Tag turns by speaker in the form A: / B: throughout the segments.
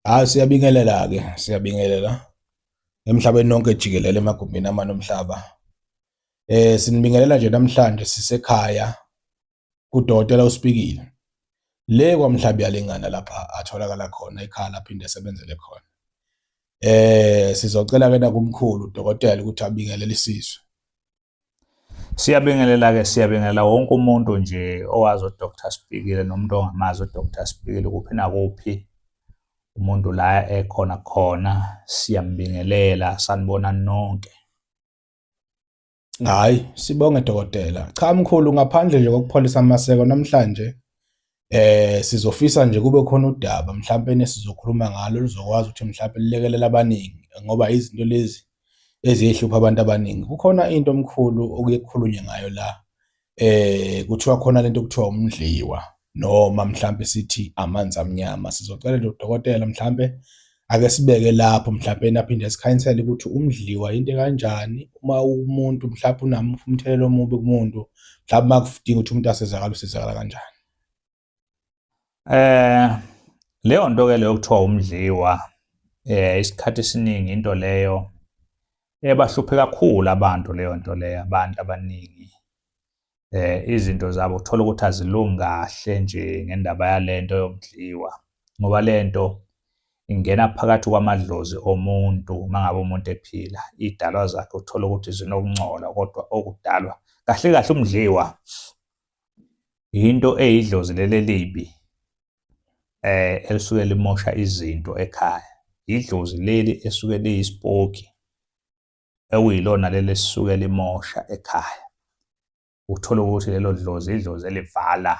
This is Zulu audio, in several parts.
A: Hayi ah, siyabingelela ke siyabingelela emhlabeni nonke jikelele emagumbini amane omhlaba. Eh sinibingelela nje namhlanje sisekhaya kudokotela uSpikile. Le kwamhlabi yalingana lapha atholakala khona ekhaya lapha into esebenzele khona. Eh sizocela ke nakumkhulu udokotela ukuthi abingelele isizwe. Siyabingelela-ke
B: siyabingelela wonke umuntu nje owazi uDr Sibhikile nomuntu ongamazi uDr Sibhikile kuphi nakuphi umuntu la ekhona khona siyambingelela sanibona nonke.
A: Hayi sibonge dokotela. Cha mkhulu ngaphandle nje kokupholisa amaseko namhlanje Eh sizofisa nje kube khona udaba mhlawumbe nesizokhuluma ngalo luzokwazi ukuthi mhlawumbe lilekelela abaningi ngoba izinto lezi ezihlupha abantu abaningi. Kukhona into omkhulu okuye kukhulunywe ngayo la eh kuthiwa khona lento okuthiwa umdliwa noma mhlawumbe sithi amanzi amnyama. Sizocela lo dokotela mhlawumbe Ake sibeke lapho mhlawumbe naphinde sikhanyisele ukuthi umdliwa into kanjani uma umuntu mhlawumbe unamuphi umthelela omubi kumuntu mhlawumbe uma kudinga ukuthi umuntu asizakala usizakala kanjani eh
B: leyo nto ke leyo kuthiwa umdliwa eh isikhathi esiningi into leyo ebahluphe kakhulu abantu leyo nto leyo abantu abaningi eh izinto zabo uthola ukuthi azilungi kahle nje ngendaba yalento yokudliwa ngoba lento ingena phakathi kwamadlozi omuntu mangabe umuntu ephila idalwa zakhe uthola ukuthi zinokungcola kodwa okudalwa kahle kahle umdliwa into eyidlozi leli elibi eh elisuke limosha izinto ekhaya idlozi leli esuke liyisipoki ekuyilona leli esuke limosha ekhaya uthola ukuthi lelo dlozi idlozi elivala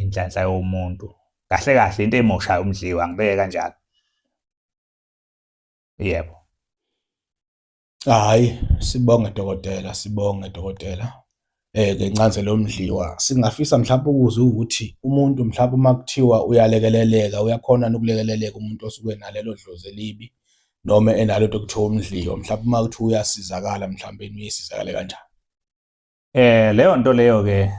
B: inhlanhla yomuntu kahle kahle into emoshayo umdliwa ngibeke kanjalo yebo hayi
A: sibonge dokotela sibonge dokotela eh ke incazelo yomdliwa singafisa mhlawumbe ukuze ukuthi umuntu mhlawumbe uma kuthiwa uyalekeleleka uyakhona nokulekeleleka umuntu osuke nalelo dlozi elibi noma enalo into okuthiwa umdliwa mhlawumbe uma kuthiwa uyasizakala mhlawumbe uyisizakale kanjani eh
B: leyo nto leyo ke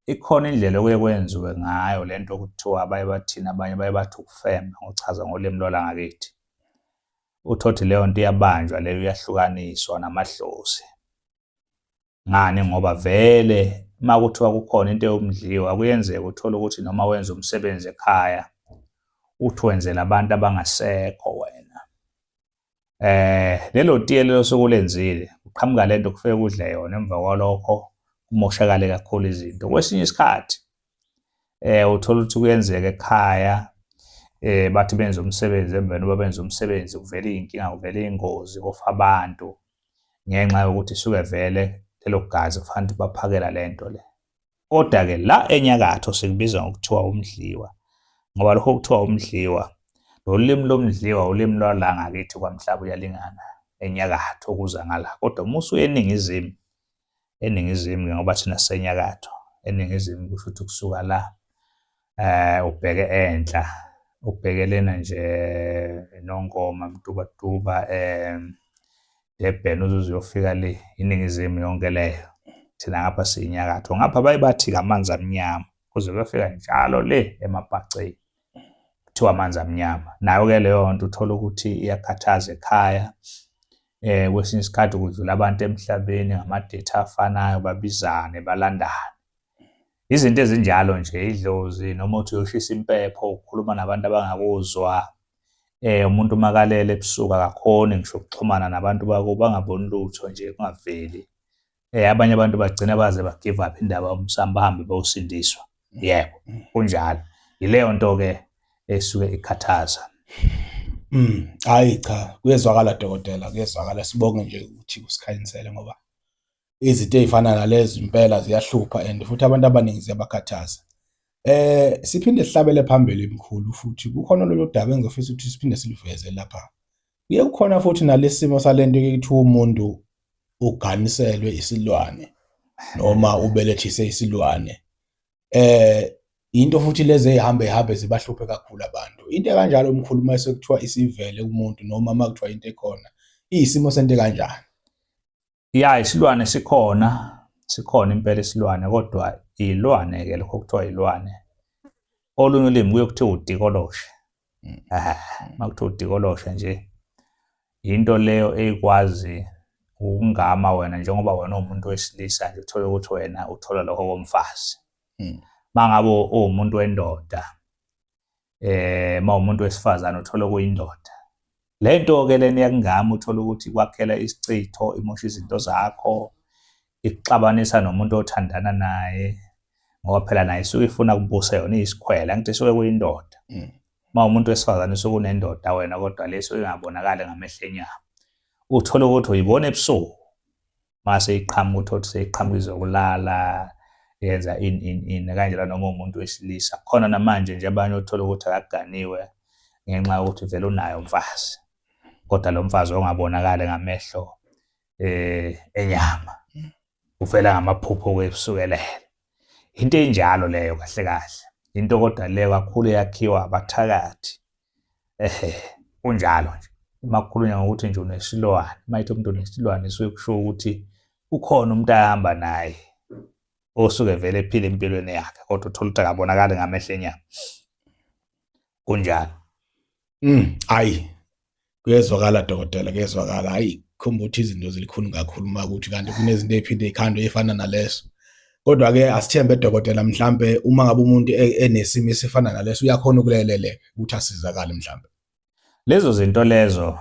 B: ikhona indlela okuye kwenziwe ngayo le nto okuthiwa abaye bathina abanye baye bathi ukufema ngochaza ngolimi lwalangakithi uthothi leyo nto iyabanjwa leyo uyahlukaniswa namadlozi ngani ngoba vele uma kuthiwa kukhona into yomdliwa kuyenzeka uthole ukuthi noma wenza umsebenzi ekhaya uthi wenzela abantu abangasekho wena eh lelo tiye lelo sokulenzile uqhamuka lento kufike kudle yona emva kwalokho kumoshakale kakhulu izinto kwesinye isikhathi eh uthola ukuthi kuyenzeka ekhaya eh bathi benza umsebenzi emveni uba benza umsebenzi kuvela iy'nkinga kuvela iy'ngozi kofa abantu ngenxa yokuthi suke vele lelo gazi kufanele baphakela lento le kodwa-ke la enyakatho sikubiza ngokuthiwa umdliwa ngoba lokho kuthiwa umdliwa lolimi lomdliwa ulimi lwala ngakithi kwamhlaba uyalingana enyakatho okuza ngala kodwa uma usuye eningizimu eningizimu-ke ngoba thina sisenyakatho eningizimu kusho ukuthi kusuka la eh ubheke enhla ubhekelena nje nongoma mtubatuba eh Durban uzuze uyofika le iningizimu yonke leyo thina ngapha siyinyakatho ngapha baye bathi kamanzi amnyama kuze kuyofika njalo le emabhaceni kuthiwa amanzi amnyama nayo-ke leyo nto uthole ukuthi iyakhathaza ekhaya eh kwesinye isikhathi kudlula abantu emhlabeni ngamadethi afanayo babizane balandane izinto ezinjalo nje idlozi noma uthi uyoshisa impepho ukhuluma nabantu abangakuzwa eh umuntu makalele ebusuku akakhoni ngisho ukuxhumana nabantu bako bangaboni lutho nje kungaveli eh abanye abantu bagcina baze ba give up indaba umsamba bahambe bawusindiswa yebo mm. kunjalo yileyo nto ke esuke ikhathaza mm
A: hayi cha kuyezwakala dokotela kuyezwakala sibonge nje ukuthi usikhanyisele ngoba izinto ezifana nalezi impela ziyahlupha and futhi abantu abaningi ziyabakhathaza eh siphinde sihlabele phambili imkhulu futhi kukhona lolu daba engizofisa ukuthi siphinde siliveze lapha Kuye kukhona futhi nalesimo salento ekuthiwa umuntu uganiselwe isilwane noma ubelethise isilwane. Eh into futhi lezi ezihambe hambe zibahluphe kakhulu abantu. Into kanjalo umkhulu uma sekuthiwa isivele kumuntu noma uma kuthiwa into ekhona iyisimo sento kanjani. ya
B: isilwane sikhona sikhona impela isilwane kodwa ilwane ke lokho kuthiwa ilwane olunye ulimi kuye kuthiwa udikoloshe mm. ah, uma kuthiwa udikoloshe nje yinto leyo eyikwazi ukungama wena njengoba wena uwumuntu wesilisa nje uthole ukuthi wena uthola lokho komfazi mm. mangabe uwumuntu wendoda eh uma umuntu wesifazane uthola kuyindoda lento ke leni yakungami uthola ukuthi kwakhela isichitho imosha izinto zakho ikuxabanisa nomuntu othandana naye ngoba phela naye isuke ifuna kubusa yona isikhwela ngithi isuke kuyindoda mm. uma umuntu wesifazane usuke unendoda wena kodwa leso ingabonakali ngamehlo enyama uthole ukuthi uyibona ebusuku mase iqhamuka uthothi seyiqhamuka izokulala yenza in in in kanjalo noma umuntu wesilisa khona namanje nje abanye othola ukuthi akaganiwe ngenxa yokuthi vele unayo umfazi kodwa lo mfazi ongabonakali ngamehlo eh enyama ufela ngamaphupho kwesukelela into enjalo leyo kahle kahle into kodwa leyo kakhulu yakhiwa abathakathi ehe kunjalo nje uma kukhulunywa ngokuthi nje unesilwane uma ithi umuntu unesilwane suke kusho ukuthi ukhona umuntu ahamba naye osuke vele ephila empilweni yakhe kodwa uthola ukuthi akabonakali ngamehlo enyama kunjalo mm
A: ayi kuyezwakala dokotela kuyezwakala hayi khomba ukuthi izinto zilikhulu kakhulu uma ukuthi kanti kunezinto ephinde ikhandwe efana naleso kodwa ke asithembe dokotela mhlambe uma ngabe umuntu e-, enesimo esifana naleso uyakhona ukuleleleka ukuthi asizakale mhlambe lezo
B: zinto lezo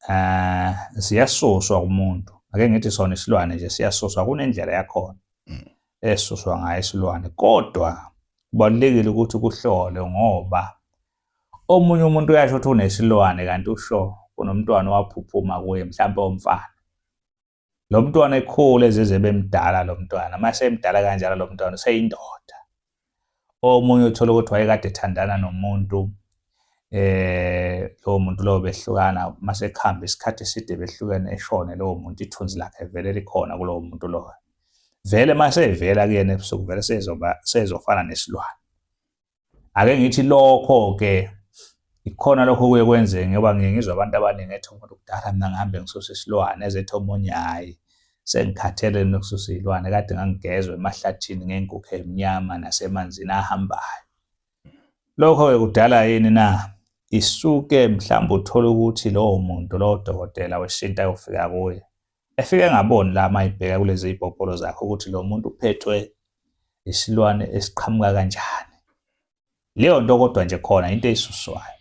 B: eh siyasuswa kumuntu ake ngithi sona isilwane nje siyasuswa kunendlela yakhona mm. esuswa ngayo isilwane kodwa kubalulekile ukuthi kuhlole ngoba omunye umuntu uyasho ukuthi unesilwane kanti usho kunomntwana owaphuphuma kuye mhlawumbe omfana lo mntwana ekhule ezizwe bemdala lo mntwana uma semdala kanjalo lo mntwana useyindoda omunye uthole ukuthi wayekade ethandana nomuntu eh lowo muntu lowo behlukana uma sekuhamba isikhathi eside behlukene eshone lowo muntu ithunzi lakhe vele likhona kulowo muntu lowo vele uma sevela kuyena ebusuku vele sezoba sezofana nesilwane ake ngithi lokho ke ikhona lokho kuye kwenzeke ngoba ngiye ngizwa abantu abaningi ethi umuntu kudala mina ngihambe ngisusa isilwane ezethi omunye hhayi sengikhathele nokususa iy'lwane kade ngangigezwe emahlathini ngenkukhu emnyama nasemanzini ahambayo lokho-ke kudala yini na isuke mhlawumbe uthole ukuthi lowo muntu lowo dokotela wesintu ayofika kuye efike engaboni la mayibheka kulezi ibhobholo zakhe ukuthi lo muntu uphethwe isilwane esiqhamuka kanjani leyo nto kodwa nje khona into eyisuswayo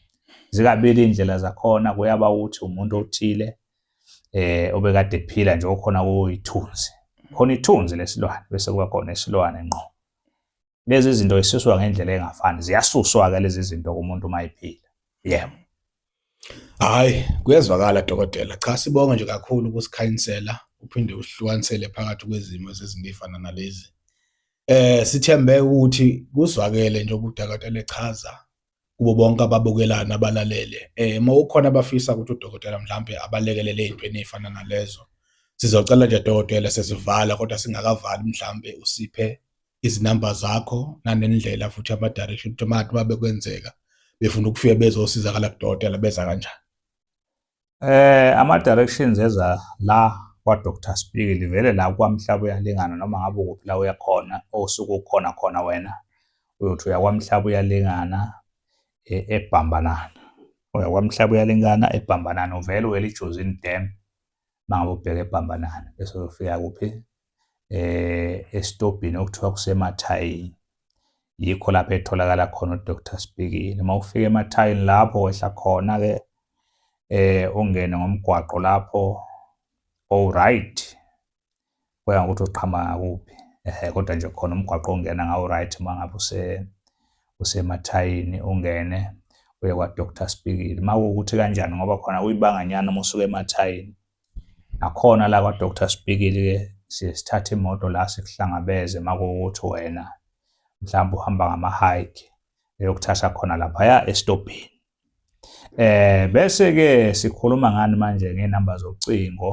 B: zikabili indlela zakhona kuyaba ukuthi umuntu othile eh obekade ephila nje okhona kuyithunzi khona ithunzi lesilwane bese kuba khona isilwane ngqo lezi zinto zisuswa ngendlela engafani ziyasuswa-ke lezi zinto kumuntu uma ephila yebo
A: hayi kuyezwakala dokotela cha sibonge nje kakhulu ukusikhayinsela uphinde usihlukanisele phakathi kwezimo zezinto ey'fana nalezi eh sithembe ukuthi kuzwakele nje ukuthi akatele chaza kubo bonke ababukelayo nabalalele eh uma ukhona abafisa ukuthi udokotela mhlambe abalekelele ezintweni ezifana nalezo sizocela nje dokotela sesivala kodwa singakavali mhlambe usiphe izinamba zakho nanendlela futhi ama direction ukuthi manje uma bekwenzeka befuna ukufika bezosizakala kudokotela beza kanjani Eh
B: ama directions eza la kwa Dr Spikili vele la kwamhlaba uyalingana noma ngabe ukuphi la uyakhona osuku ukhona khona wena uyothi uyakwamhlaba uyalingana e, ebhambanana uyakwamhlaba uyalingana ebhambanana uvele uwele ijozini dam mangabe ubheke ebhambanana bese uyofika kuphi eh estobhini okuthiwa kusemathayini yikho lapho etholakala khona uDr Spikile uma ufika emathayini lapho wehla khona ke eh ungene ngomgwaqo lapho all right kuya ngokuthi uqhama kuphi eh kodwa nje khona umgwaqo ongena ngawo right mangabe use usemathayini ungene uye kwa Dr Spikile makuwukuthi kanjani ngoba khona uyibanganyana uma usuke emathayini nakhona la kwa-doctor sibikile ke siye sithathe imoto la sikuhlangabeze makuwukuthi wena mhlawumbe uhamba ngama-hike eyokuthatha khona laphaya esitobhini eh bese ke sikhuluma ngani manje ngenamba zocingo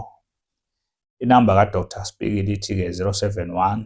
B: inamba ka-doctor sibikile ithi-ke 071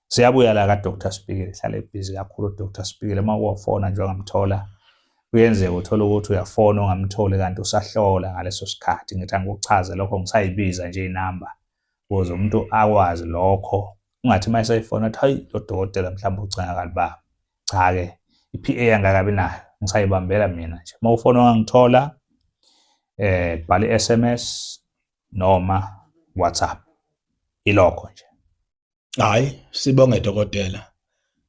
B: Siyabuya la kaDr Sibhikile, hlale busy kakhulu uDr Sibhikile uma uwafona nje ungamthola. Kuyenzeka uthola ukuthi uyafona ungamtholi kanti usahlola ngaleso sikhathi. Ngithi angikuchaze lokho ngisayibiza nje inamba ukuze umuntu akwazi lokho. Ungathi uma esayifona athi hayi lo dokotela mhlawumbe ucinga kaliba. Cha-ke i-PA angakabi nayo ngisayibambela mina nje. Uma ufona ungangithola eh bhala i-SMS noma WhatsApp. Ilokho nje. Hayi,
A: sibonge dokotela.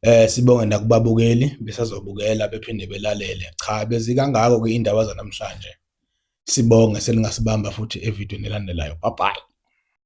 A: Eh sibonge nakubabukeli besazobukela bephinde belalele. Cha bezikangako ke indaba zanamhlanje. Sibonge seningasibamba futhi evidweni elandelayo. Bye bye.